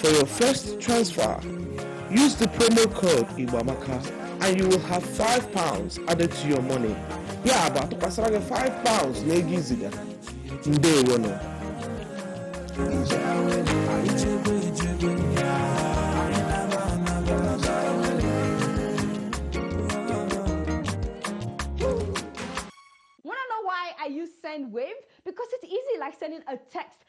For your first transfer, use the promo code Iwamaka and you will have 5 pounds added to your money. Ya bụ atụkwasịra gị 5 pounds na ego iziga. Ndewo nọ. Want to know why I use send wave? Because it's easy like sending a text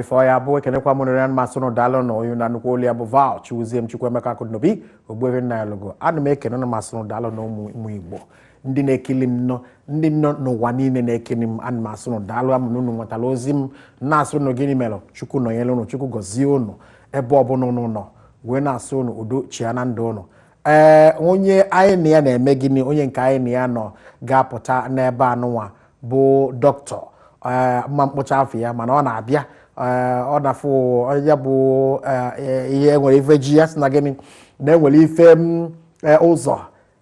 ifo ya bụ ekenekwa m ụnụ rinne ma sị ụnụ daalụ na onye ụnụ na-anụkwa olu ya bụ Val Chiwuzie m Chukwuemeka Akụdịnobi Ogbuefi Nnanyelugo ana m ekene ụnụ ma sị ụnụ daalụ na ụmụ Igbo ndị na-ekili m nọ ndị nọ n'ụwa niile na-ekili m ana m asị ụnụ daalụ amụ na ụnụ nwetara ozi m na-asị ụnụ gịnị mere Chukwu nọnyere ụnụ Chukwu gọzie ụnụ ebe ọbụla ụnụ nọ wee na-asị ụnụ udo chịa na ndụ ụnụ ee onye anyị na ya na-eme gịnị onye nke anyị na ya nọ ga-apụta n'ebe anụnwa bụ doctor ee m ma-akpọcha afa ya mana ọ na-abịa ee ọ na-afụ ya bụ ee, ihe enwere ife ji ya sị na gịnị na enwere ife m, ee, ụzọ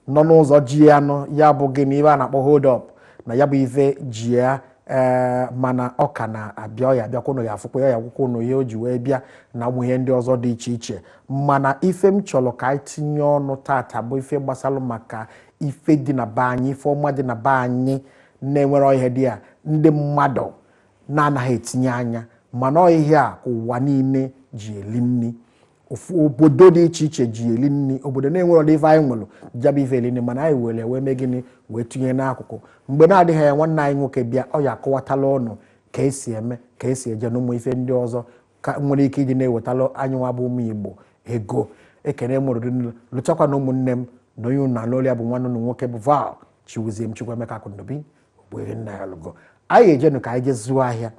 nọ n'ụzọ ji ya nọ ya bụ gịnị ife a na-akpọ hold up na ya bụ ife ji ya ee mana ọ ka na-abịa ọ ya-abịakwa ụnụ ya-afụkwa ya ya akọkwa ụnụ ihe o ji wee bịa na ụmụ ihe ndị ọzọ dị iche iche mana ife m chọrọ ka anyị tinye ọnụ tata bụ ife gbasalụ maka ife dị na be anyị ife ọma dị na be anyị na-enwere ihe dị ya ndị mmadụ na-anaghị etinye anya mana ọ ihe a ka ụwa niile ji eli nni ofu obodo dị iche iche ji eli nni obodo na-enwere ụdị ife anyị nwere ji ya bụ ife eli nni mana anyị were wee mee gịnị wee tinye n'akụkụ mgbe na-adịghị anya nwanne anyị nwoke bịa ọ ya-akọwatala ụnụ ka esi eme ka esi eje na ụmụ ife ndị ọzọ ka nwere ike iji na-ewetala anyị nwa bụ ụmụ Igbo ego ekene m ụnụ rinne malụchakwanụ ụmụnne m na onye unu na-anụ olu ya bụ nwanne unu nwoke bụ Val Chiwuzie m Chukwuemeka Akụdịnobi Ogbuefi Nnanyelugo anyị ejenụ ka anyị je zụọ ahịa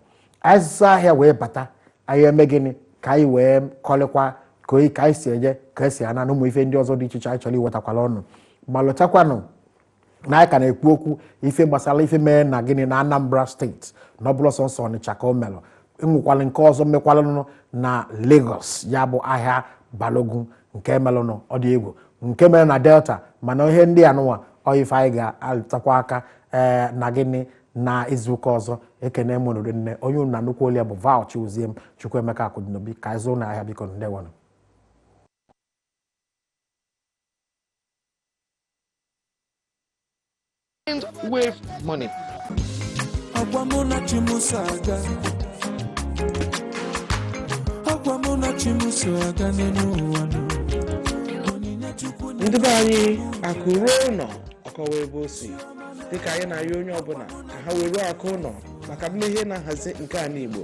anyị zụọ ahịa wee bata anyị eme gịnị ka anyị wee kọlịkwa ka anyị si eje ka esi ana na ụmụ ife ndị ọzọ dị iche iche anyị chọrọ iwetakwala ụnụ malụchakwanụ na anyị ka na-ekwu okwu ife gbasara ife mee na gịnị na Anambra state na ọ bụrọ sọọsọ Ọnịcha ka o melụ e nwekwalụ nke ọzọ mekwalanụ na Lagos ya bụ ahịa Balogun nke melụnụ ọ dị egwu nke mere na Delta mana ihe ndị anụnwa ọ ife anyị ga-alụtụkwa aka ee eh, na gịnị na izuụka ọzọ ekene m ụnụ rinne onye unu na-anụkwa olu ya bụ Val Chiwuzie m Chukwuemeka Akụdịnobi ka anyị zụọnụ ahịa biko ndewanụ Mind wave money. Agwa mụ na chi m so aga. Agwa mụ na chi m so aga n'elu ụwa nụ. Onyinye Chukwu nye ndị be anyị akụ ruo ụlọ ọ kọwaa ebe o si dịka anyị na-arịọ onye ọbụla ka ha weruo akụ ụlọ maka mmeghe na nhazi nke ala Igbo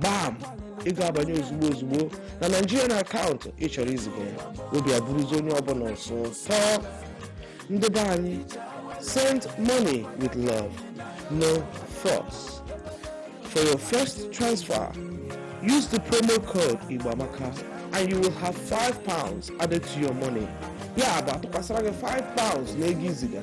gbam ị ga-abanye ozugbo ozugbo na nigerian akaụntụ ị chọrọ iziga ya obi abụrụzi onye ọbụla sọ ụtọ ndị be anyị send money with love no fuss for your first transfer use the promo code igbo amaka and you will have 5 pounds added to your money ya bụ atụkwasịra gị 5 pounds na ego iziga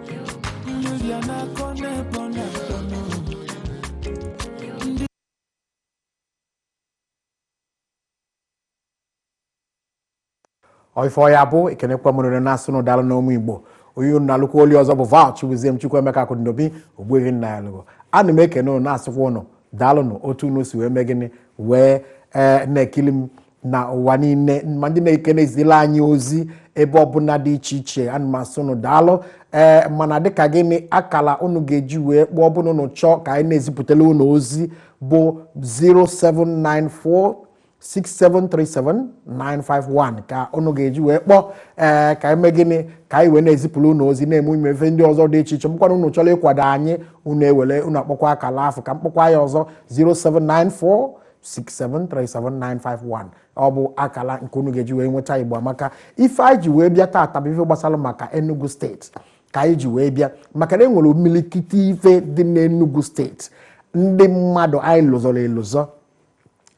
ọifọ ya bụ ekenekwa m unu na-asị unu daalụnụ ụmụ igbo onye unu na-anụkwa olu ya ọzọ bụ val chibuzie m chukwuemeka akụdịnobi ogbuehi nnanyelugo ana m ekene ụnụ na-asịkwa ụnụ daalụnụ otu unu si wee mee gịnị wee ee na-ekili m na ụwa niile ma ndị na-eke na-ezila anyị ozi ebe ọbụla dị iche iche ana m asị ụnụ daalụ ee mana dịka gịnị akala ụnụ ga-eji wee kpọọ ọ bụlụ na ụnụ chọọ ka anyị na-ezipụtala ụnụ ozi bụ 0794 6737951 ka ụnụ ga-eji wee kpọọ ee ka anyị mee gịnị ka anyị wee na-ezipụrụ ụnụ ozi na-eme ụmụ ife ndị ọzọ dị iche iche ma ọ bụkwa na ụnụ chọrọ ịkwado anyị ụnụ ewere ụnụ akpọkwa akala afụ ka m kpọkwa ya ọzọ 0794 6737951 ọ bụ akala nke unu ga-eji wee nweta igbo amaka ife anyị ji wee bịa taata bụ ife gbasara maka enugu steeti ka anyị ji wee bịa maka na e nwere imilikiti ife dị n'enugu steeti ndị mmadụ anyị lụzọrọ elụzọ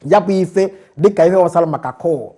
ya bụ ife dịka ife gbasara maka coal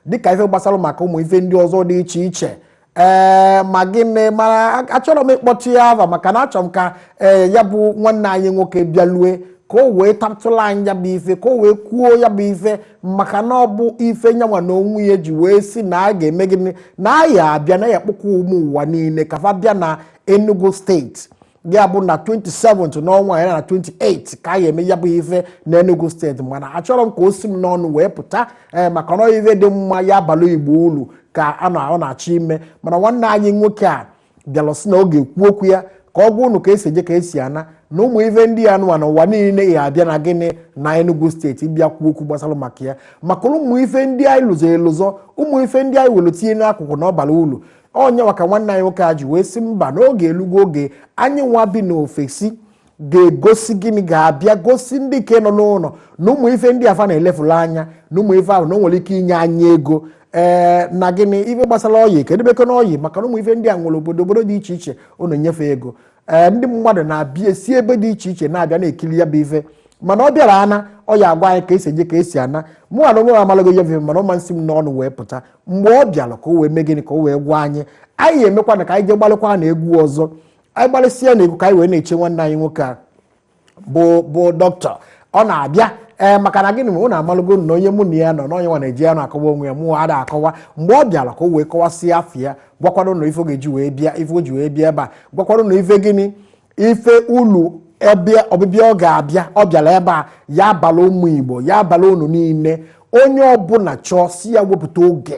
dịka ife gbasara maka ụmụ ife ndị ọzọ dị iche iche ee ma gịnị mana achọrọ m ịkpọtụ ya ava maka na achọrọ m ka ee ya bụ nwanne anyị nwoke bịalụ ka o wee tatụla anyị ya bụ ife ka o wee kwuo ya bụ ife maka na ọ bụ ife nyanwa na onwe ya ji wee sị na a ga-eme gịnị na ya abịa na ya kpọkwa ụmụ ụwa niile ka fa bịa na Enugu steeti ya bụ na 27 n'ọnwa ya na 28 ka a ga-eme ya bụ ife na Enugu steeti mana achọrọ m ka o si m n'ọnụ wee pụta ee eh, maka na ọ ife dị mma ya abalụ igbo ulu ka a na ọ na-achọ ime mana nwanne anyị nwoke a bịara sị na ọ ga-ekwu okwu ya ka ọ gwa ụnụ ka esi eje ka esi ana na ụmụ ife ndị ya nụwa na ụwa niile ya abịa na gịnị na Enugu steeti bịa kwuo okwu gbasara maka ya maka ụmụ ife ndị anyị lụzọ elụzọ ụmụ ife ndị anyị were tinye n'akụkụ na ọ bara ulu ọ nya ka nwanne anyị nwoke a ji wee sị mba na oge elugo oge anyị nwa bi n'ofesi ga-egosi gịnị ga-abịa gosi ndị nke nọ n'ụlọ na ụmụ ife ndị a fa na-elefuru anya na ụmụ ife ahụ na o nwere ike inye anyị ego ee eh, na gịnị ife gbasara oil kedu beko na oil maka na ụmụ ife ndị a nwere obodo obodo dị iche iche ọ na-enye fa ego ee eh, ndị mmadụ na-abịa esi ebe dị iche iche na-abịa na-ekiri ya bụ ife mana ọ bịara ana ọ ya agwa anyị ka esi eje ka esi ana mụ na onwe m amalago ya bụ ife mana ọ ma esi m n'ọnụ wee pụta mgbe ọ bịara ka o wee mee gịnị ka o wee gwa anyị anyị emekwa na ka anyị jee gbalịkwa na egwu ọzọ anyị gbalịsịa na egwu ka anyị wee na-eche nwanne anyị nwoke a bụ dọkịta ọ na-abịa ee eh, maka na gịnị ma unu amalụgo na onye mụ na ya nọ n'onye nwa na-eji ya na-akọwa onwe ya mụ ada akọwa mgbe ọ bịara ka o wee kọwasịa afa ya gwakwa unu ife ga-eji wee bịa ife o ji wee bịa ebe a gwakwa unu ife gịnị ife ulu ebe ọbịbịa ọ ga-abịa ọ bịara ebe a ya abalụ ụmụ igbo ya abalụ unu niile onye ọbụla chọọ si ya wepụta oge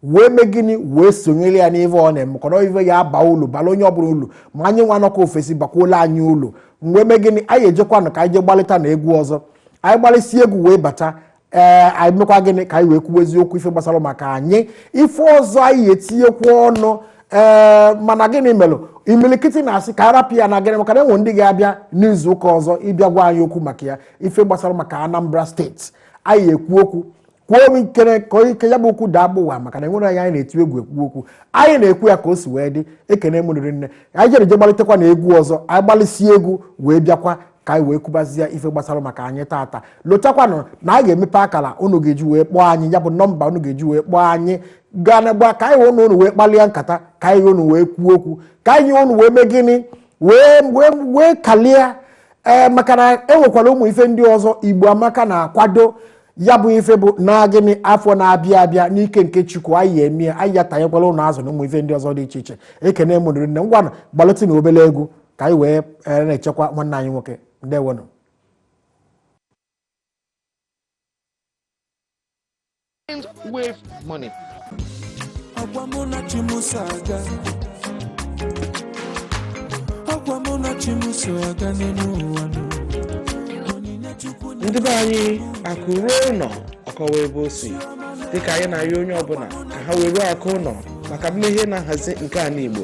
wee mee gịnị wee sonyere ya n'ife ọ na-eme kọrọ ife ya aba ulu balụ onye ọbụla ulu ma anyị nwa nọkwu ofesi bakwuolụ anyị ulu wee mee gịnị anyị ejekwanụ ka anyị je gbalịta na egwu ọzọ anyị gbalịsịa egwu wee bata ee anyị mekwa gịnị ka anyị wee kwuwezie okwu ife gbasara maka anyị ife ọzọ anyị etinyekwa ọnụ ee mana gịnị mere imilikiti na-asị ka a rapụ ya na gịnị maka na e nwe ndị ga-abịa n'izu ụka ọzọ ịbịa gwa anyị okwu maka ya ife gbasara maka anambra steeti anyị ekwu okwu kwuo m ikere ka onye ike ya bụ okwu daa gbụwa maka na enwere anyị anyị na-eti egwu ekwu okwu anyị na-ekwu ya ka o si wee dị ekene m unu rinne anyị jere je gbalitekwa na egwu ọzọ anyị gbalịsie egwu wee bịakwa ka anyị wee kwubazie ife gbasara maka anyị taata lotakwanụ na anyị ga-emepe akara unu ga-eji wee kpọọ anyị ya bụ nọmba unu ga-eji wee kpọọ anyị gaa na gba ka anyị na unu wee kpalịa nkata ka anyị na unu wee kwuo okwu ka anyị na unu wee mee gịnị wee wee wee kalịa ee eh, maka na enwekwara ụmụ ife ndị ọzọ igbo amaka na-akwado ya bụ ife bụ na gịnị afọ na-abịa abịa n'ike nke chukwu anyị eme anyị ya tanyekwala unu azụ na ụmụ ife ndị ọzọ dị iche iche ekene m unu rinne ngwanụ gbalịtị na obele egwu ka anyị wee eh, na-echekwa nwanne anyị nwoke ndewonụ wave money. Agwa mụ na chi m so aga. Agwa mụ na chi m so aga n'elu ụwa nụ. Onyinye Chukwu na ndị be anyị akụ ruo ụlọ ọ kọwa ebe o si dịka anyị na-arịọ onye ọbụla ka ha were akụ ụlọ maka mmeghe na nhazi nke ala igbo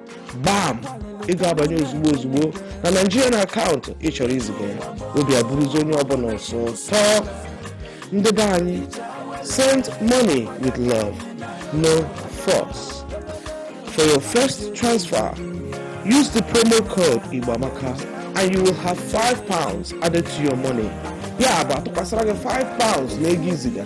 gbam ego abanye ozugbo ozugbo na Nigerian akaụntụ ị chọrọ iziga ya obi abụrụzi onye ọbụla sọ ụtọ ndị be anyị send money with love no fuss for your first transfer use the promo code igboamaka and you will have 5 pounds added to your money ya bụ atụkwasara gị 5 pounds na ego i ziga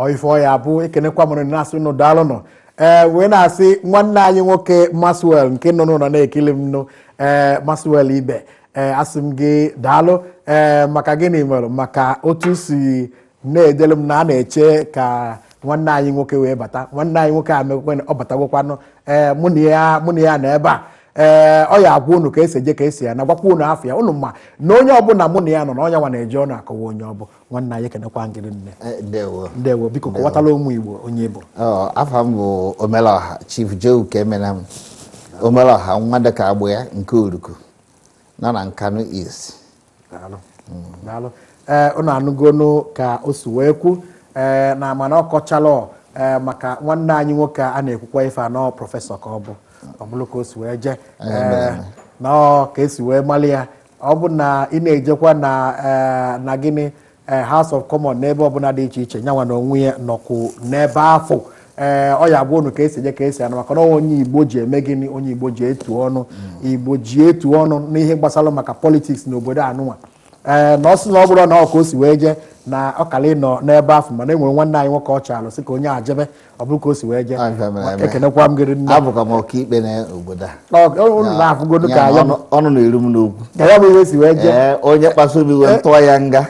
ọ ife ọya bụ ekenekwa m unu na-asị unu daalụnụ ee wee na-asị nwanne anyị nwoke maxwell nke nọ n'ụlọ na-ekili m nụ ee maxwell ibe ee asị m gị daalụ ee maka gịnị mere maka otu si na-edelu m na a na-eche ka nwanne anyị nwoke wee bata nwanne anyị nwoke a mekwe ọ batagwokwanụ ee mụ na ya mụ na ya nọ ebe a ee ọ ya agwa unu ka esi eje ka esi ana gwakwa unu afa ya unu ma na onye ọbụla mụ na ya nọ na ọ nyanwa na-eji ọnụ akọwa onye ọ bụ nwanne anyị ekenekwa m gị rinne Eh, ndewo ndewo biko kọwatalụ ụmụ igbo onye ị bụ Ọ, afa m bụ omelọha chief joe ukemenam omelọha nwa dịka agbụ ya nke oruku nọ na nkanu east daalụ daalụ ee ụnụ anụgonu ka o si wee kwu ee na mana ọ kọchalụ ee maka nwanne anyị nwoke a na-ekwukwa ife a na ọ prọfesọ ka ọ bụ ọ bụrụ ka o si wee jee ee na ọ ka esi wee mali ya ọ bụ na ị na-ejekwa na ee na gịnị ee eh, House of Commons n'ebe ọbụla dị iche iche nyanwa na onwe ya nọkwu n'ebe afụ ee eh, ọ ya agwa unu ka esi eje ka esi ana maka na onye Igbo ji eme gịnị onye Igbo ji etu ọnụ hmm. Igbo ji etu ọnụ n'ihe gbasara maka politiks na obodo anụnwa ee eh, na ọ sị na ọ bụrụ na ọ ka o si wee jee na ọkala ịnọ n'ebe afụ mana e nwere nwanne anyị nwoke ọ chaalụ sị ka onye a jebe ọ bụrụ ka o si wee jee Ọ ife mere eme. ekenekwa m gị rinne abụkwa m ọkaikpe na obodo a Ọ- ọ- unu na-afụgodu ka Ya, anya m ọnụ- ọnụ na-eru m n'okwu ka ya bụ ihe si wee jee ee onye kpasu obi wee tụọ ya nga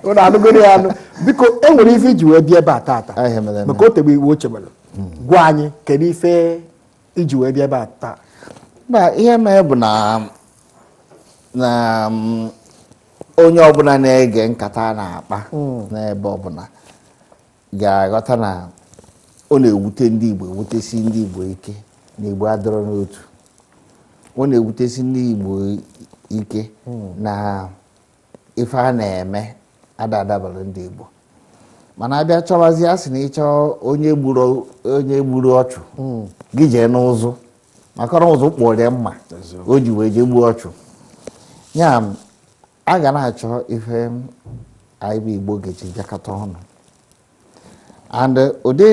unu anụgoro ya anụ biko e nwere ife iji wee bịa ebe a taata Ọ ihe mere eme. maka o tegbe iwu o chebere gwa anyị kedu ife iji wee bịa ebe a taa na ihe mere bụ na na mm, onye ọbụla na-ege nkata a na-akpa hmm. n'ebe ọbụla ga-aghọta na ọ na-ewute ndị Igbo ewutesi ndị Igbo ike na Igbo adịrọ n'otu ọ na-ewutesi ndị Igbo ike hmm. na ife a na-eme ada adabara ndị Igbo mana a bịa chọwazie a sị na ị chọọ onye gburu onye gburu ọchụ hmm. gị jee n'ụzụ maka na ụzụ kpụrụ ya mma o ji wee jee gbuo ọchụ ya a ga na-achọ ife anyị bụ Igbo ga-eji bịakọta ọnụ and ụdị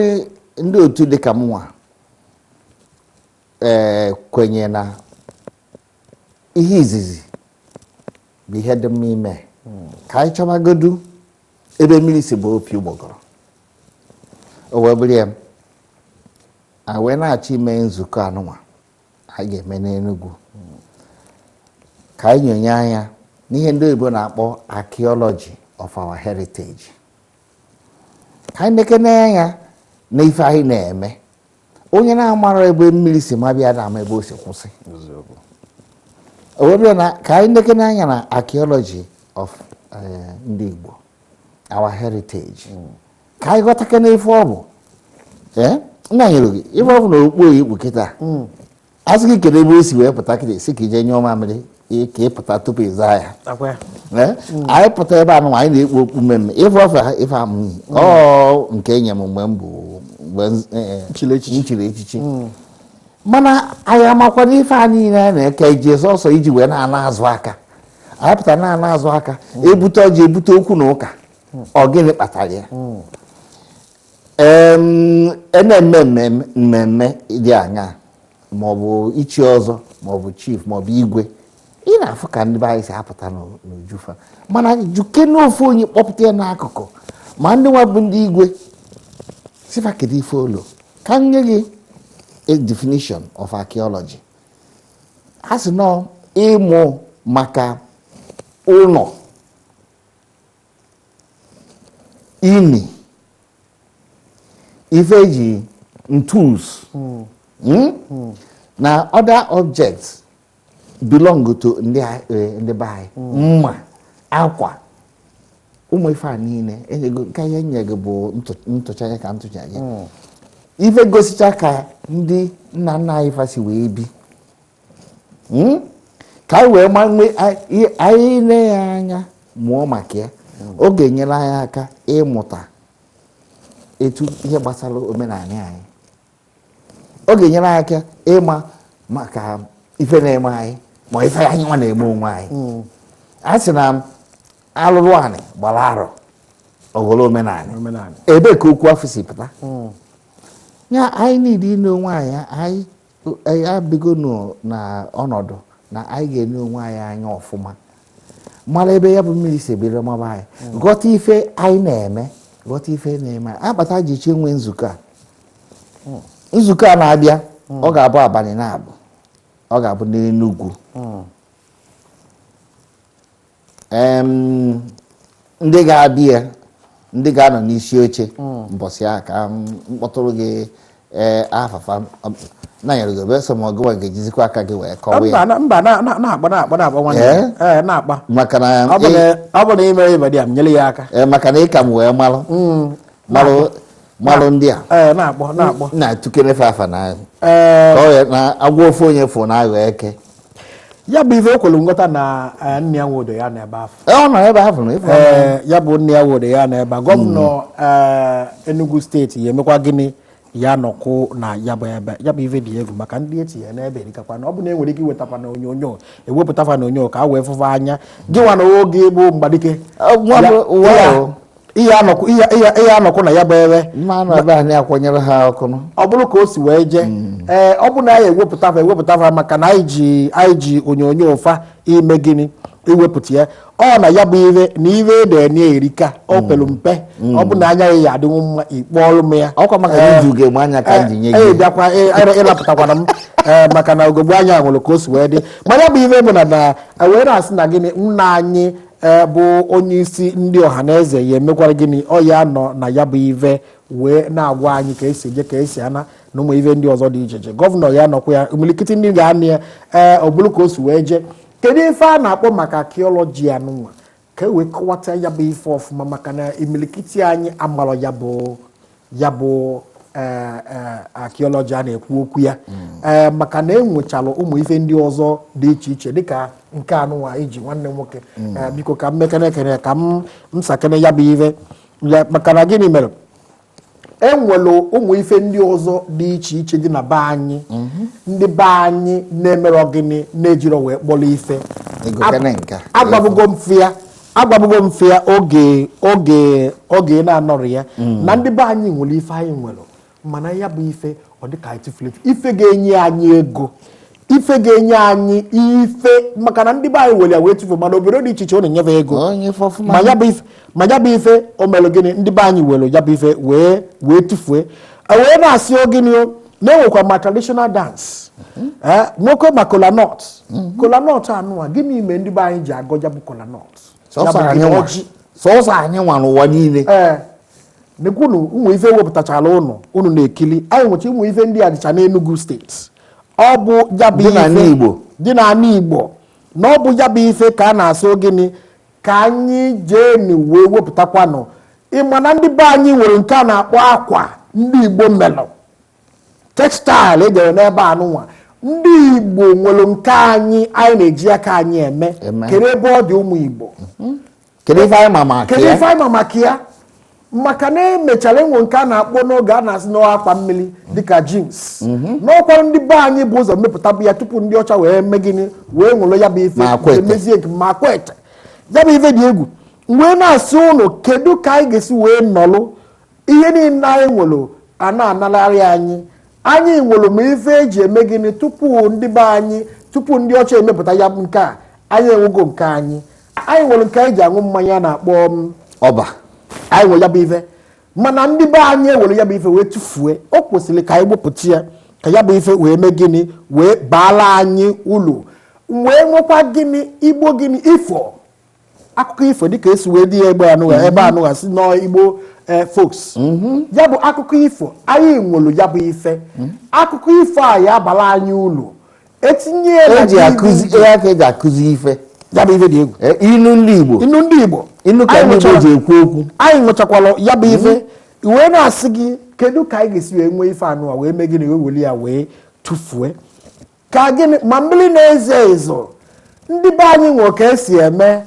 ndị otu dịka mụnwa ee eh, kwenye na ihe izizi bụ ihe dị mma ime ka anyị chọbagodu ebe mmiri si baa opi ụgbọgọrọ o wee bụrụ ya a wee na-achọ ime nzukọ anụnwa anyị ga-eme n'Enugu ka anyị nyonye anya n'ihe ndị oyibo na-akpọ archaeology of our heritage ka anyị nekene anya na ife anyị na-eme onye na-amarọ ebe mmiri si mabe ya ada ama ebe o si kwụsị o wee bụrụ na ka anyị nekene anya na archaeology of eh, ndị Igbo our heritage hmm. ka anyị ghọtakene ife ọ bụ eh? nna nyere gị ife ọ bụ na okpu oyi kpu kịta hmm. a sị gị kedu ebe o si wee pụta kịta ị sị ka i je nyụọ mamịrị ị- ka ị pụta tupu ị zaa ya Akwa ya. Ee, anyị pụta ebe anụ anyị na-ekpu okpu mmemme ife ọfa ha ife amụghị ọ nke enye m mgbe m bụ mgbe m- eh, Chiri echichi. m chiri echichi mana anyị amakwa na ife a niile anyị na-eke iji sọsọ iji wee na-ana azụ aka anyị pụta na-ana azụ aka ebute ọjị ebute okwu na ụka ọ gịnị kpatara ya na-eme mmemme dị aṅaa maọbụ ichi ọzọ maọbụ chief maọbụ igwe ị na-afụ ka ndị be anyị si apụta n'uju fa mana jụkene ofu onye kpọpụta ya n'akụkụ ma ndị nwa bụ ndị igwe sị fa kedu ife olu ka m nye gị a definition of archaeology a sị na ọ ịmụ maka ụlọ ini ife eji tools hmm? Hmm. na other objects belong to ndị eh, be anyị hmm. mma akwa ụmụ ife a niile enyego nke ihe nye gị bụ ntụcha ya ka ntụcha gị ife gosicha ka ndị nna nna anyị fa si wee bi hmm? ka anyị wee ma onwe anyị nee ya anya mụọ maka ya ọ ga-enyere anyị aka ịmụta etu ihe gbasara omenala anyị ọ ga-enyere anyị aka ịma maka ife na-eme anyị ma ife anyị nwa na-eme onwe anyị hmm. a sị na alụlụ anị gbara arọ ọ ghọrọ omenala ebee ka okwu afụ si pụta hmm. ya anyị niile ile onwe anyị anya anyị abịagonụ na ọnọdụ na anyị ga-ene onwe anyị anya ọfụma mara ebe ya bụ mmiri si bido maba anyị hmm. ghọta ife anyị na-eme ghọta ife na-eme akpata e ji chọ inwe nzukọ a hmm. nzukọ a na-abịa hmm. ọ ga-abụ abalị naabọ ọ ga-abụ n'Enugwu ndị ga-abịa ndị ga-anọ n'isi oche hmm. mbọsị a ka m kpọtụrụ gị eh, afa fa nanyere gị obeso ma ọ gịnwa ga-ejizikwa aka gị wee kọwa ya mba na-agba na-agba na-agba nwanne eh? Eh, na-agba maka na ọ bụ na imere ibadi a nyere ya aka maka na ị ka m wee malụ hmm. malụ malụ ndị a ee na-akpọ na-akpọ na-atụkere fa afa na ee ka ọ ya na agwa ofu onye fụ na aghọ eke ya bụ ife ekwelu nghọta na eh, nne ya nwodo ya n'ebe afụ Ee, ọ nọ ebe ahụ na ịfụ ee ya bụ nne ya were ya n'ebe a gọvanọ ee, Enugu steeti ya emekwa gịnị ya nọkwụ na ya bụ ebe ya bụ ife dị egwu maka ndị etinye n'ebe erikakwa na ọ bụ na enwere ike iwetakwa na onyonyo ewepụta fa na onyonyo ka a wee fụ fa anya gịnwa na oge bụ mgbadike Ọ, nwa bụ- Ya- nwa ya- bụ- ihe anọkụ ihe ihe- ihe anọkụ na ya bụ ebe mma anụ ebe anyị akwanyere ha ọkụ nụ. ọ bụrụ ka o si wee jee ee ọ bụ na anyị ewepụta fa ewepụta fa maka na anyị ji anyị ji onyonyo fa ime gịnị iwepụta ya ọ na ya bụ ive na ive ede enye erika o pelu mpe ọ bụ na anya ya ya adịnwu mma ikpe ọrụ m ya ọkwa maka na iji ugegbe anya ka m ji nye ee gị bịakwa ee, ịra- ịrapụtakwana m ee maka na ugegbe anya nwere ka o si wee dị ma ya bụ ive bụ na na wee na-asị na gịnị nna anyị ee bụ onye isi ndị ọha na eze ya emekwara gịnị ọ ya nọ na ya bụ ive wee na-agwa anyị ka esi eje ka esi ana na ụmụ ive ndị ọzọ dị iche iche gọvanọ ya nọkwa ya imilikiti ndị ga-anọ ya ee ọ bụrụ ka o si wee jee kedu ife a na-akpọ maka archaeology anụwa ka e wee kọwata ya bụ ife ọfụma maka na imilikiti anyị amarọ ya bụ ya bụ e, e, archaeology a na-ekwu okwu ya ee mm. maka na enwechalụ ụmụ ife ndị ọzọ dị iche iche dịka nke anụwa iji e nwanne nwoke mm. biko ka m mekene ekene ka m sakene ya bụ ife maka na gịnị mere enwelụ ụmụ ife ndị ọzọ dị iche iche dị na be anyị mhm. ndị be anyị na-emerọ gịnị na-ejirọ wee kpọrọ ife agwabugo m fa ya agwabugo m fa ya oge oge oge na-anọrọ ya mm. na ndị be anyị nwere ife anyị nwere mana ya bụ ife ọ dịka anyị tụfuru ife ga-enye anyị ego ife ga-enye anyị ife maka na ndị be anyị were ya wee tụfu mana obodo dị iche iche ọ na-enye fa ego ma ya bụ ife o mere gịnị ndị be anyị were ya bụ ife wee wee tụfue e wee na-asị ọ gịnị na-enwekwa ma traditional dance eh, nwoke ma kolanut kolanut anụwa gịnị ime ndị be anyị ji agọ ya bụ kolanut sọsọ anyị nwa n'ụwa niile ee eh, nekwunu ụmụ ife wepụtachara ụnụ ụnụ na-ekili anyị nwecha ụmụ ife ndị a dịcha n'Enugu steeti ọ bụ ya bụ ife dị n'ala Igbo na ọ bụ ya bụ ife ka a na-asị gịnị ka anyị jeenu wee wepụtakwanụ ịma na ndị be anyị nwere nke a na-akpọ akwa ndị igbo melụ textile e jere n'ebe anụnwa ndị igbo nwere nke anyị anyị na-eji aka anyị eme kedu ebe ọ dị ụmụ igbo kedu ife anyị ma maka ya maka na emechara enwe nke a na-akpọ n'oge a na-asị na akwa mmiri dịka jeans mhm. n'ọkwara ndị be anyị bu ụzọ mepụtabu ya tupu ndị ọcha wee mee gịnị wee were ya bụ ife emezie nke ma Akwete ya bụ ife dị egwu wee na-asị ụnụ kedu ka anyị ga-esi wee nọlụ ihe niile anyị nwere a na-analarị anyị anyị nwere ma ife eji eme gịnị tupu ndị be anyị tupu ndị ọcha emepụta ya bụ nke a anyị enwego nke anyị anyị nwere nke anyị ji aṅụ mmanya a na-akpọ ọba anyị nwere ya bụ ife mana ndị be anyị ewere ya bụ ife wee tụfue o kwesịrị ka anyị wepụta ya ka ya bụ ife wee mee gịnị wee baala anyị ulu wee nwekwa gịnị igbo gịnị ifo akụkọ ifo dịka esi wee dị ya ebe a nụgha sị na igbo eh, folks ya bụ akụkọ ifo anyị nwere ya bụ ife akụkọ ifo a ya-abala anyị ulu etinye ya na eji DVD. akụzi ihe aka eji akụzi ife ya bụ ife dị egwu Eh, inu ndị igbo inu ndị igbo inu ka Anyị ndị igbo nwechara- ji ekwu okwu anyị nwechakwara ya bụ ife wee na-asị gị kedu ka anyị ga-esi wee nwee ife a nụwa wee mee gịnị wee weli ya wee tụfue ka gịnị ma mmiri na-ezo ezo ndị be anyị nwe ka esi eme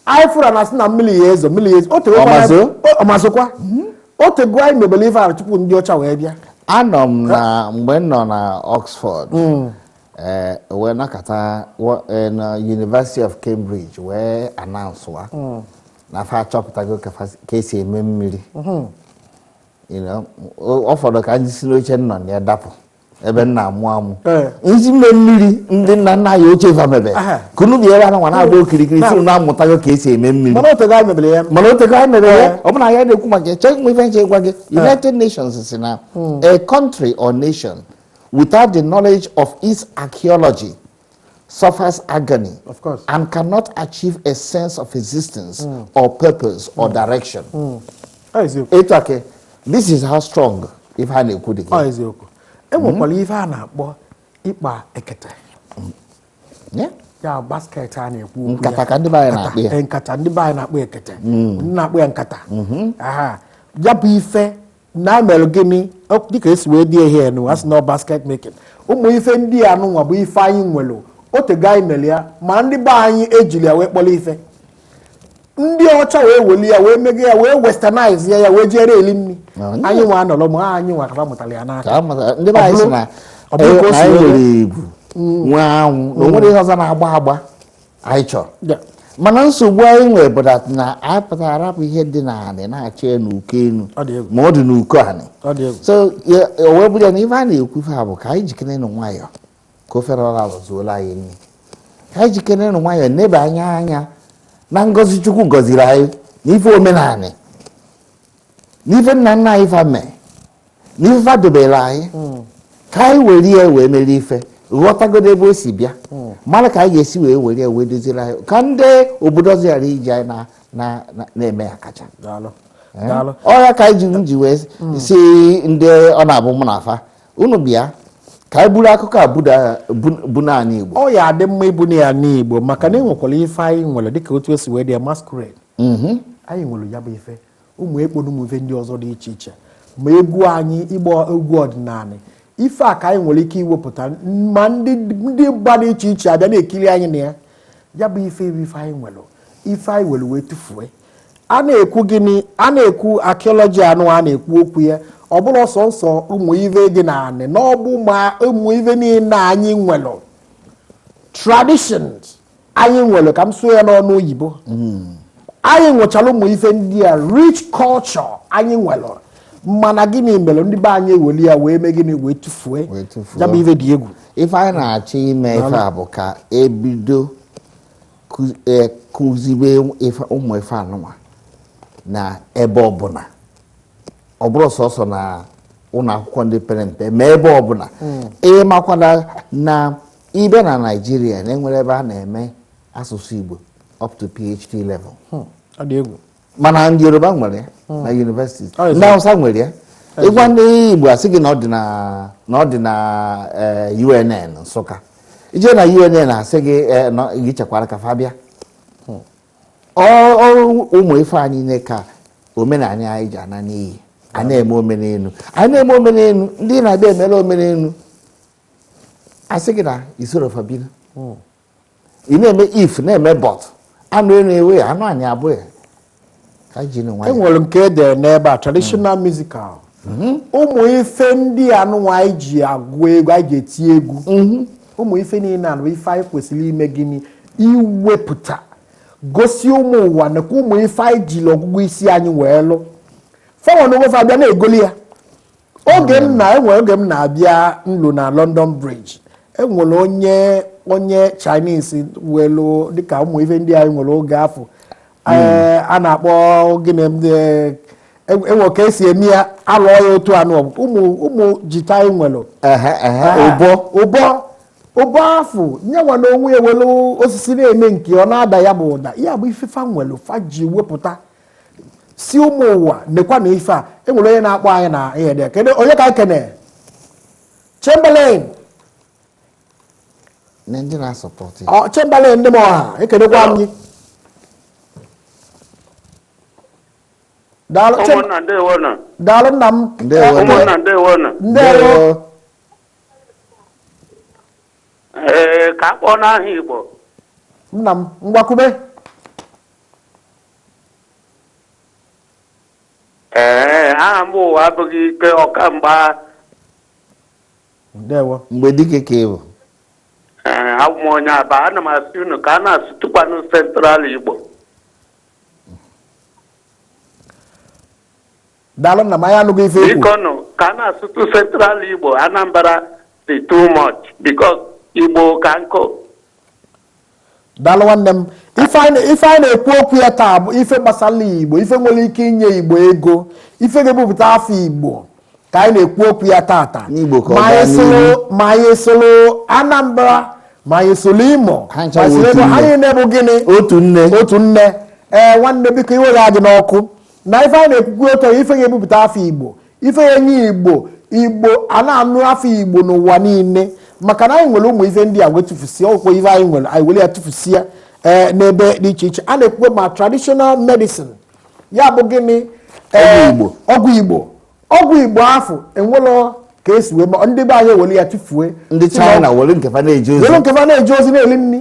anyị fụrụ na asị na mmiri ya ezo mmiri ya ezo otegokwa na- Ọ ma-ezo? o- ọ ma-ezokwa otego anyị mebere ife ahụ tupu ndị ọcha wee bịa anọ m na mgbe m nọ na oxford eh, wee nakọta wa- eh, na university of cambridge wee announce wa na fa achọpụtago ka fa- ka esi eme mmiri You know, o- ọ fọdụ ka m si n'oche m nọ na ya dapụ ebe m na-amụ amụ eh. m sị ime mmiri ndị nna nna anyị ochie fa mebe ka unu bi ebe a nwa na-agba okirikiri sị na amụtago ka esi eme mmiri mana otego anyị mebere ya mana otego anyị mebere ya eh. ọ bụ na ya na-ekwu maka chọọ nwe ife nche gwa gị eh. United Nations sị na hmm. a country or nation without the knowledge of its archaeology suffers agony Of course. and cannot achieve a sense of existence or purpose or direction. Ọ eziokwu. Etu ake, this is how strong ife a na-ekwu dị Ọ gị. eziokwu. E nwekwara ife a na-akpọ ịkpa ekete. Yeah? Ya basket a na-ekwu okwu ya. Nkata ka ndị be anyị na-akpọ ya. Nkata, eh, Nkata ndị be anyị na-akpọ ekete. Ndị na-akpọ ya nkata. Aha. Ya bụ ife na-emere gịnị Ọ- dịka esi wee dị ihe a nụ a sị na ọ basket making ụmụ ife ndị a nụnwa bụ ife anyị nwere otego anyị mere ya ma ndị be anyị ejirọ ya wee kpọrọ ife ndị ọcha wee weli ya wee mege ya wee westernize ya ya wee jiri eli nri Na onye- anyị nwa anọrọ ma anyị nwa ka fa mụtara ya n'aka ka a mata ndị be anyị sị na Ọ bụrụ- ọ bụrụ ka o na si anyị wee- nwere ebu nwee anwụ na o nwere ihe ọzọ na-agba agba anyị chọrọ Ya. mana nsogbu anyị nwere bụ that na anyị pụtara arapụ ihe dị na anị na-achọ ya n'uko enu Ọ dị egwu. ma ọ dị n'uko anị Ọ dị egwu. so ya- o wee bụrụ ya na ife a na-ekwu ife a bụ ka anyị jikene nụ nwayọọ ka ofe ọra zuola anyị nri ka anyị jikene nụ nwayọọ nebe anya anya na ngọzi Chukwu gọziri anyị na ife omenanị na ife nna nna anyị fa mee n'ife fa dobere anyị hmm. ka anyị were ya wee mere ife ghọtagodo ebe o si bịa hmm. mara ka anyị ga-esi wee were ya wee doziri anyị ka ndị obodo ọzọ ghara iji anyị na-eme akaja eh? ọ ya ka anyị ji m ji wee hmm. sị ndị ọ na-abụ mụ na fa unu bịa ka anyị buru akụkọ a buna anị Igbo ọ ya-adị mma ibuna ya n'Igbo maka na e nwekwara ife anyị nwere dịka otu e si wee dị ya masquerade mhm. anyị nwere ya bụ ife ụmụ ekpo na ụmụ ife ndị ọzọ dị iche iche ma egwu anyị ịgba egwu ọdịnala ife a ka anyị nwere ike iwepụta ma ndị mba dị iche iche abịa na-ekiri anyị na ya ya bụ ife ibe ife anyị nwere ife anyị were wee tụfuo a na-ekwu gịnị a na-ekwu archaeology anụ a na-ekwu okwu ya ọ bụrọ sọsọ ụmụ ive dị na anị na ọ bụ ma ụmụ ive niile anyị nwere traditions anyị nwere ka m sụọ ya n'onu oyibo hmm. anyị nwechara ụmụ ife ndị a rich culture anyị nwere mana gịnị mere ndị be anyị eweli ya wee mee gịnị wee tụfuo ya bụ ife dị egwu ife anyị na-achọ ime ife a bụ ka e bido e, kụzibe ụmụ ife anụnwa na ebe ọbụla ọ bụrọ sọsọ na ụlọ akwụkwọ ndị pere mpe ma ebe ọbụla hmm. ị makwana na ị bịa na Nigeria na e nwerọ ebe a na-eme asụsụ igbo up to phd level hmm. mana ndị yoruba nwere ya hmm. na university ndị hausa nwere ya ị gwa ndị igbo a sị gị na ọ dị na eh, unn nsụka i je na unn a sị gị eh, gị chekwara ka fa bịa hmm. ọ bụ ụmụ ife anyị niile ka omenala anyị ji ana n'iyi a na-eme omenelu a na-eme omenelu ndị na-abịa emela omenelu a sị gị na i soro fa biri hmm. ị na-eme ife na-eme but anụ elu ewe ya anụ anyị abụghị e nwere nke e dere n'ebe a traditional hmm. musical hmm. ụmụ ife ndị anụnwa anyị ji agụ egwu anyị ji eti egwu ụmụ ife niile anụ ife anyị kwesịrị ime gịnị iwepụta gosi ụmụ ụwa nakwa ụmụ ife anyị jiri ọgụgụ isi anyị wee lụ fanwa na onwe fa abịa na-egoli ya oge m na e nwe oge m na-abịa ọlụ na London Bridge e nwere onye onye Chinese welu dịka ụmụ ife ndị anyị nwere oge afụ hmm. eh, a na-akpọ gịnị eh, e nwe ka e si eme ya a lụọ ya otu anụ ụmụ ụmụ guitar anyị nwere ụbọ ụbọ ụbọ afụ nyanwa na onwe ya welu osisi na-eme nke ọ na-ada ya bụ ụda ya bụ ife fa nwere fa ji wepụta si ụmụ ụwa nekwa na ife a enwere onye na-akpọ anyị na ihe dị kedu onye ka kene Chamberlain ndị na-asọpọtụ Chamberlain ndị m ọha ekenekwa m gị daalụ nna m ndewo ee ka a kpọọ n'aha Igbo nna m ngwa kwube Ee, aha m bụ ụwa abụghị ike ọkamgba. ndewo Mgbedike ka ị bụ Ee, abụ m onye Aba. Ana m asị unu ka a na-asụtụkwanụ Central Igbo. daalụ nna m anyị anụgo ife i kwu Biko nụ, ka a na-asụtụ Central Igbo, Anambra dị too much because Igbo ka nkụ. Daalụ nwanne m. Ife anyị na-ekwu okwu ya taa bụ ife gbasara Igbo, ife nwere ike inye Igbo ego, ife ga-ebupụta afa Igbo ka anyị na-ekwu okwu ya taata. Ma anyị sụrụ Anambra, ma anyị sụrụ Imo, ma anyị niine bụ gịnị? Otu nne. Otu nne. Ee nwanne biko iwe gị adịna ọkụ. Na ife anyị na-ekwu okwu bụ ife ga-ebupụta afa Igbo ife ya-enye igbo igbo a na-anụ afa igbo n'ụwa niine maka na anyị nwere ụmụ ife ndị a wee tụfusie ọkwụkwọ ife anyị nwere anyị were ya tụfusie ee eh, n'ebe dị iche iche a na-ekwukwe ma traditional medicine ya bụ gịnị eh, ọgwụ igbo ọgwụ igbo afụ e nwelụ ka e si wee mee ndị be anyị were ya tụfuo ndị China were nke fa na-eje ozi na-eli nri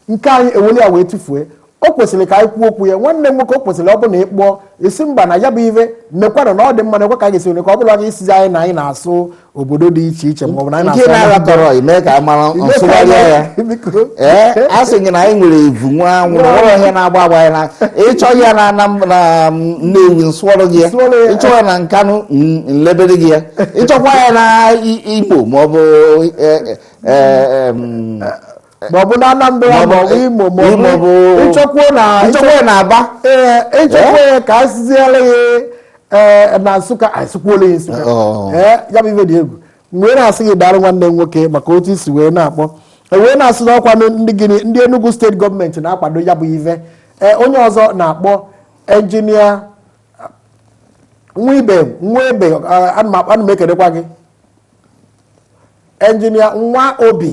nke anyị eweli ya wee tụfuo o kwesịrị ka anyị kwuo okwu ya nwanne m nwoke o kwesịrị ọ bụ na ịkpọọ esi mba na ya bụ ihe mekwanụ na ọ dị mma na ekwe ka anyị ga-esi nwere ka ọ bụrụ anyị isizi anyị na anyị na-asụ obodo dị iche iche ma ọ bụ na anyị nke na-asụ na-ara tọrọ ime ka a mara Ime ka nsụgharị anyị- ya biko. ee a sị gị na anyị nwere evu nwa anwụ na nwere ihe na-agba agba anyị na ị chọọ ya na na na nnewi m sụọrụ gị ya Nsụọrụ ya. ị chọọ ya na nkanụ n- nlebere gị ya ị chọkwa ya na I- imo maọbụ maọbụ na Anambra maọbụ Imo maọbụ ị chọkwuo na ị chọkwuo na Aba ee ị chọkwuo ya ka a sụziere ya na Nsụka a sụkwuolụ ya Nsụka ee ya bụ ife dị egwu mgbe ị na-asị gị daalụ nwanne m nwoke maka otu i si wee na-akpọ wee na-asị na ọ kwa ndị gịnị ndị Enugu steeti gọọmenti na-akwado ya bụ ife ee onye ọzọ na-akpọ enjinia nwa ibe nwa ebe ana m ekelekwa gị enjinia nwa obi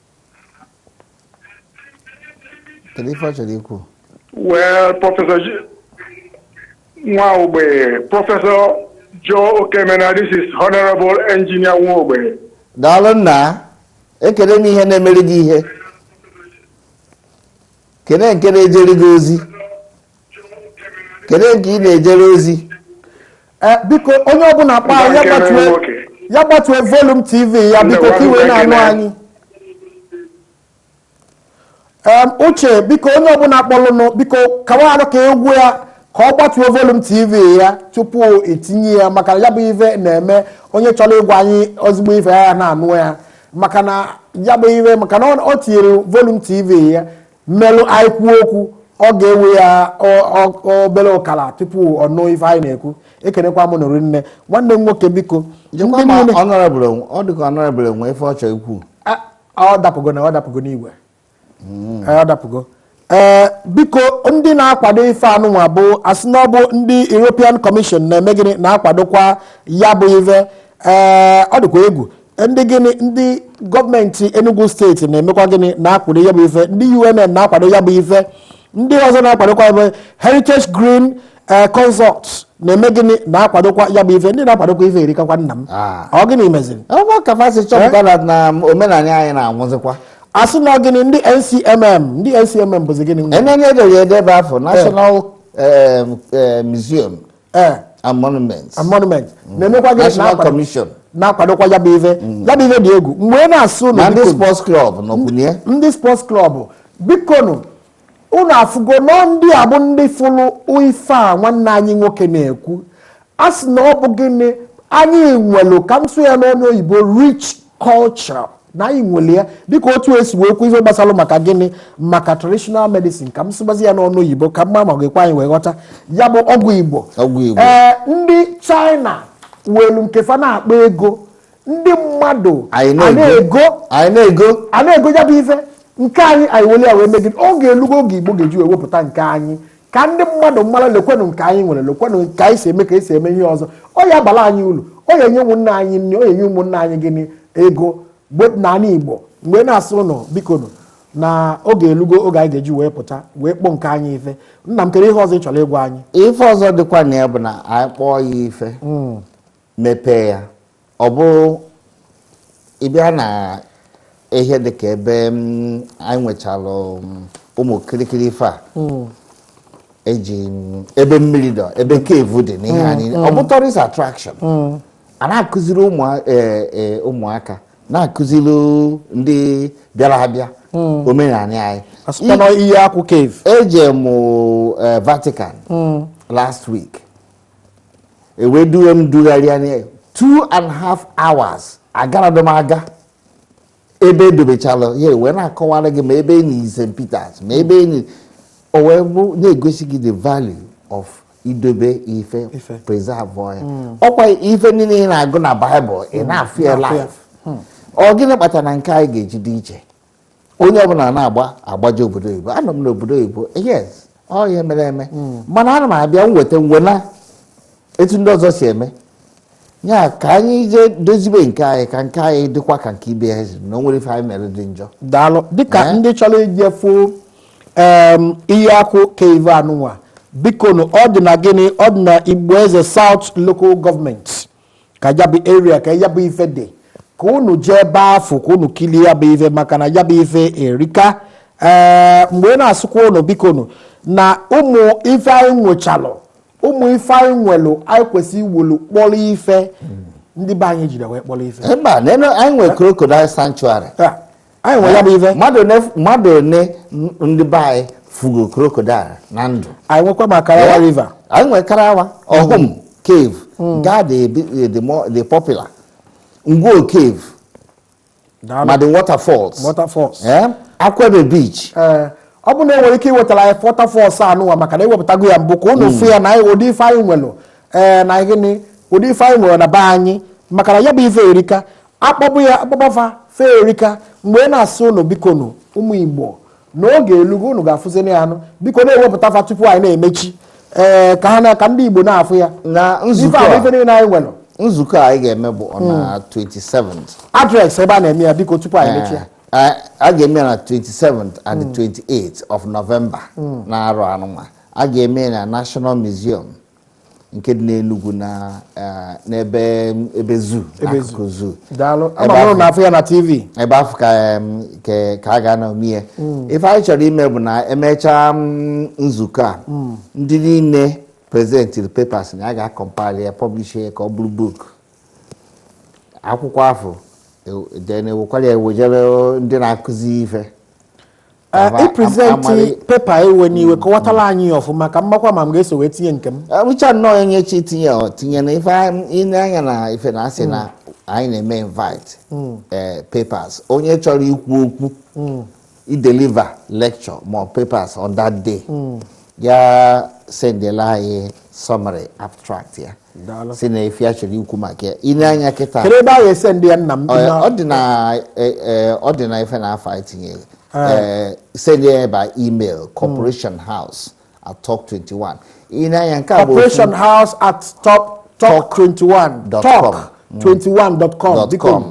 kedu ife ị chọrọ ikwu Well, Professor J- Nwaogbe, Professor Joe Okemena, this is Honorable Engineer Nwaogbe. daalụ nna ekene m ihe na-emere gị ihe kene nke na-ejere gị ozi kedu nke ị na-ejere ozi Eh, biko onye ọbụla kpaa ya Nzakịrị gbatue nwoke. ya gbatue volume TV ya biko ka i wee na-anụ Nzakịrị. anyị Em, uche biko onye ọbụla kpọlụnụ biko kawarụ ka ị gwa ya ka ọ gbatuo volume TV ya tupu i tinye ya maka ya bụ ife na-eme onye chọrọ ịgwa anyị ozigbo ife ya na-anụ ya maka na ya bụ ife maka na ọ- ọ tinyere volume TV ya n'elu anyị kwuo okwu ọ ga-ewe ya obere ụkala tupu ọ nụ ife anyị na-ekwu ekenekwa m nụ rinne nwanne m nwoke biko ọ dịka honorable nwe ife ọ chọrọ ikwu ọ dapụgo na ọ dapụgo n'igwe hmm. ọ dapụgo ee eh, biko ndị na-akwado ife a nụnwa bụ a sị na ọ bụ ndị European Commission na-eme gịnị na-akwadokwa ya bụ ife ee eh, ọ dịkwa egwu ndị gịnị ndị gọọmenti Enugu steeti na-emekwa gịnị na-akwado ya bụ ife ndị UNN na-akwado ya bụ ife ndị ọzọ na-akwadokwa ya bụ Heritage Green eh, Consult na-eme gịnị na-akwadokwa ya bụ ife ndị na-akwadokwa ife erikakwa nna m ah. ọ gịnị meziri ọ bụ ka fa si chọpụta eh? na omenala anyị na-anwụzikwa a sị na gịnị ndị NCMM ndị NCMM bụzi gịnị enenye edere edebe afọ eh. National Museum eh. and monuments and monuments mm. na-emekwa gịnị National Commission na-akwadokwa ya bụ ife mm. ya bụ ife dị egwu m wee na-asị ụnụ ndị sports club nọkwu na ya ndị sports club bikonu unu afụgo nọ ndị a bụ ndị fụrụ ife a nwanne anyị nwoke na-ekwu a sị na ọ bụ gịnị anyị nwelu ka m sụọ ya n'ọnụ oyibo rich culture na anyị nwere ya dịka otu e si wee kwu ihe gbasara maka gịnị maka traditional medicine ka m sụbazi ya n'ọnụ oyibo ka m ma ma ọ ga-ekwe anyị wee ghọta ya bụ ọgwụ Igbo Ọgwụ Igbo. ee ndị China welu nke fa na-akpa ego ndị mmadụ anyị a na-ego na-ego anyị na-ego a na-ego ya bụ ife nke anyị anyị weli ya wee megide oge elugo oge Igbo ga-eji wee wepụta nke anyị ka ndị mmadụ mara lekwenụ nke anyị nwere lekwenụ nke anyị si eme ka e si eme ihe ọzọ ọ ya-abala anyị ulu ọ ya-enye ụmụnna anyị nri ọ ya-enye ụmụnna anyị gịnị ego n'ala Igbo m wee na-asị ụnụ bikonụ na oge elugo oge anyị ga-eji wee pụta wee kpọọ nke anyị ife nna m kere ihe ọzọ ị chọrọ ịgwa anyị ife ọzọ dịkwa na ya bụ na anyị kpọọ ya ife hmm. mepee ya ọ bụrụ ị bịa na ihe dị ka ebe mm, anyị nwechalụ mm, ụmụ kirikiri ife a eji mm, ebe mmiri dọ ebe cave dị n'ihe anyị ọ bụ tourist attraction a na-akụziri ụmụ eh, eh, ụmụaka na-akụziri ndị bịara abịa omenala anyị asụkwa na ihe akwụ cave eje mụ eh, Vatican last week ewee duwe m dugharịa na two and half hours agaradị m aga ebe edobechala ya ewee na-akọwara gị ma ebe enii St. Peters ma ebe enii o wee bụ na-egosi gị the value of idobe ife preserve ya hmm. ọkwa ife niile ị na-agụ na Bible ị hmm. na-afụ ya live hmm. ọ gịnị kpatara na nke anyị ga-eji dị iche onye ọbụla na-agba agbaje obodo oyibo anọ m n'obodo oyibo yes ọ ihe mere eme hmm. mana ana m abịa nweta ngwa nee etu ndị ọzọ si eme ya ka anyị jee dozibe nke anyị ka nke anyị dịkwa ka nke ibe ya na o nwere ife anyị mere dị njọ daalụ dịka eh? ndị chọrọ ije fụ Iheakpu cave anụnwa bikonu ọ dị na gịnị ọ dị na Igbo Eze South Local Government ka ya bụ area ka ya bụ ife dị ka unu jee ebe afụ ka unu kilie ya bụ ife maka na ya bụ ife erika ee eh, mgbe na-asịkwa unu biko nu na ụmụ ife anyị nwechalụ ụmụ ife anyị nwelụ anyị kwesịrị iwelu kpọrọ ife ndị be anyị jide wee kpọrọ ife mba anyị nwere crocodile sanctuary anyị nwere ya bụ ife mmadụ one mmadụ one ndị be anyị fugo crocodile na ndụ anyị nwekwa ma karawa river anyị nwere karawa ọhụm cave gaa the the more the popular Ngwo cave Daalụ. ma the waterfalls waterfalls Eh, Akwuke beach ee ọ bụ na enwere ike iwetara anyị waterfalls anụnwa maka na ewepụtago ya mbụ ka unu fụ ya na anyị ụdị ife anyị nwere ee na gịnị ụdị ife anyị nwere na be anyị maka na ya bụ ife erika a kpọba ya a kpọba fa fa erika mgbe ị na-asị ụnụ biko nụ ụmụ igbo na oge elugo ụnụ ga-afụziri ya anụ biko na-ewepụta fa tupu anyị na-emechi ee ka ha na ka ndị igbo na-afụ ya na ife nzukọ ahụ a ife niile anyị nwere nzukọ a anyị ga-eme bụ on na 27 address ebe a na-eme ya biko tupu anyị mechie Eh, a ga-eme ya na 27 and 28 of November n'arọ anụnwa a ga-eme ya na National Museum nke dị n'Enugu na eh, n'ebe ebe zoo Ebe zoo. n'akụkụ zoo daalụ Ebe ama m ahụ- na-afụ ya na TV ebe afụ ka em, ke- ka a ga-anọ mie ife anyị chọrọ ime bụ na emechaa mm, nzukọ a ndị niile presentịrị papers na a ga-acompile ya publish ya ka ọ bụrụ book akwụkwọ afụ ew- then ewekwara ya wejere ndị na-akụzi ife ipresent eh, paper ewena iwe kọwatara anyị ya ọfụma ka m makwa ma m ga-eso wee tinye nke m ọ bụcha eh, nnọọ onye chọọ itinye o tinye na ife ile anya na ife na asị na hmm. anyị na-eme invite hmm. eh, papers onye chọrọ ikwu okwu hmm. ideliver lecture ma papers on that day ya sendela anyị summary abstract ya si na ife ya chọrọ ikwu maka ya i nee anya kịta ọ dị na ife na afụ i tinye sendịa ya by email corporation mm. house at talk 21 i nee anya nke a bụ corporation house at talk talk 21 dot com 21.com mm. biko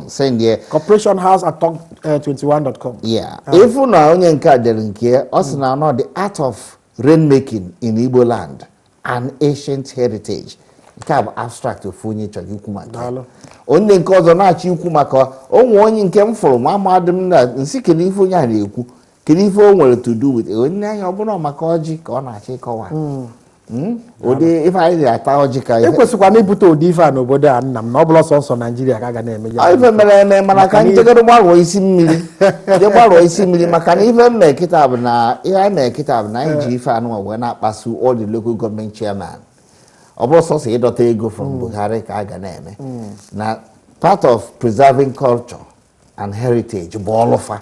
corporation house at 21.com eh, yeah ah. ị fụ na onye nke a dere nke ọ sị na ọ the art of rain making in Igbo land an ancient heritage nke a bụ abstract ofu onye chọrọ ikwu maka onye nke ọzọ na-achọ ikwu maka o nwee onye nke m fụrụ nwa amadị m na nsị kedu ife onye a na-ekwu kedu ife o nwere to do with i nee anya ọ bụrụ maka ọjị ka ọ na-achọ ịkọwa hmm. Hmm? ụdị ife anyị na-ata ọjị ka ihe ekwesịkwa na ibute ụdị ife a n'obodo a nna m na ọ bụrọ sọsọ Naijiria ka a ga na-eme ya ife mere eme mana ka njegoro gbarụọ isi mmiri je gbarụọ isi mmiri maka na ife m me kịta bụ na ihe anyị mere kịta bụ na anyị ji ife anụnwa wee na-akpasu all the local government chairman ọ bụrọ sọsọ ịdọta ego from hmm. Buhari ka a ga na-eme na part of preserving culture and heritage bụ ọlụ fa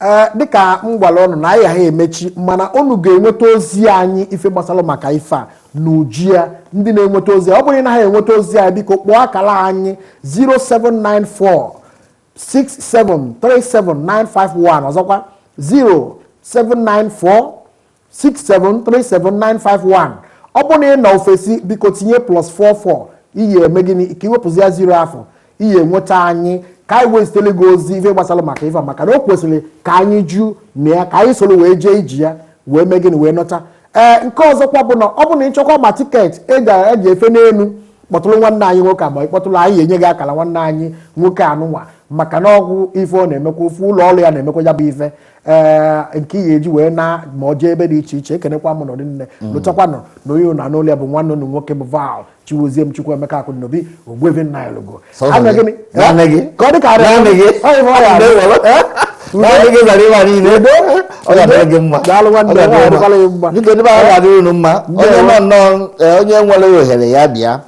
ee dịka m gwara ụnụ na anyị ya-emechi mana ụnụ ga-enweta ozi anyị ife gbasara maka ife a n'uju ya ndị na-enweta ozi ọ bụrụ na ha enweta ozi anyị biko kpọọ akara anyị 0794 6737951 ọzọkwa 0794 6737951 ọ bụrụ na ị nọ ofesi biko tinye plus 44 i ya-eme gịnị ka i wepụzịa ziro afụ i ya-enweta anyị ka anyị wee zitere gị ozi ife gbasara maka ife a, maka na o kwesịrị ka anyị jụ na ya ka anyị soro wee jee iji ya wee mee gịnị wee nọta ee nke ọzọkwa bụ na ọ bụ na ị chọkwa ma tiketi e ga- e ji efe n'elu kpọtụrụ nwanne anyị nwoke a ma ị kpọtụrụ anyị enye gị akara nwanne anyị nwoke anụnwa maka na ọ bụ ife ọ na-emekwa ofu ụlọ ọrụ ya na-emekwa ya bụ ife ee eh, nke ihe e ji wee na ma ọ jee ebe dị iche iche ekenekwa m ndị nne mm. lotakwanụ na onye nọ n'ụlọ ya bụ nwanne unu nwoke bụ Val Chigoziem Chukwuemeka Akụnobi Ogbuevi Nnanyelugo ka ọ dị ka onye nwere ohere ya bịa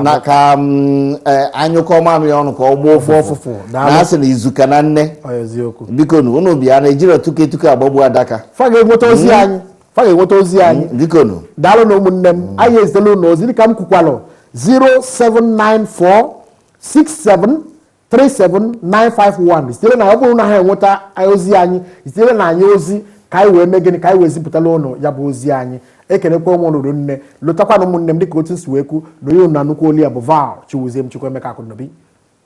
na ka mm, eh, a nyụkọọ mamịrị ọnụ ka ọ gbaa ụfụ- ụfụfụ na a sị na izu ka na nne biko nu unu bịa na ejirọ tuke tuke agbagbu adaka fa ga-enweta ozi mm. anyị fa ga-enweta ozi mm, anyị biko nu daalụ nụ ụmụnne m anyị ezitela unu ozi dịka m kwukwalụ 0794 67 37951 sitere na ọ bụrụ na ha enweta ozi anyị zitere anyị ozi ka anyị wee mee gịnị ka anyị wee zipụtala ụnụ ya bụ ozi anyị ekelekwa ụmụ lụrụ nne lụtakwana ụmụnne m dịka otu m si wee kwu na onye ụnụ na-anụkwu olu ya bụ val chiwuzie m chukwuemeka akụnobi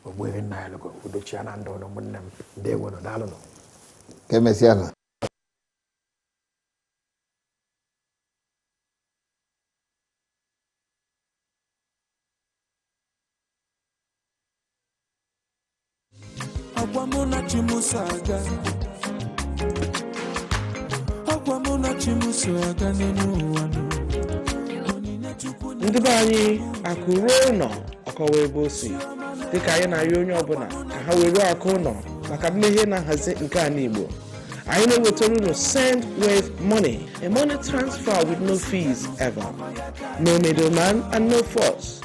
ogbuehi nnanyelugo udo chịa na ndụ ụnụ ụmụnne m ndeewonụ daalụnụ ka emesịa nụ Agwa mụ na chi m so aga Agwa mụ na chi m so aga n'elu ụwa nụ. Onyinye Chukwu nye ndị be anyị akụ ruo ụlọ ọ kọwaa ebe o si dịka anyị na-arịọ onye ọbụla ka ha weruo akụ ụlọ maka mmeghe na nhazi nke ala igbo anyị na-ewetara unu sendwave money a money transfer with no fees ever no middleman and no fuss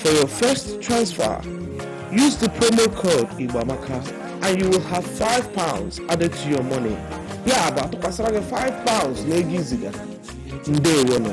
For your first transfer, use the promo code Igboamaka and you will have 5 pounds added to your money. Ya bụ a tụkwasara gị 5 pounds n'ego i ziga. Ndewo nụ.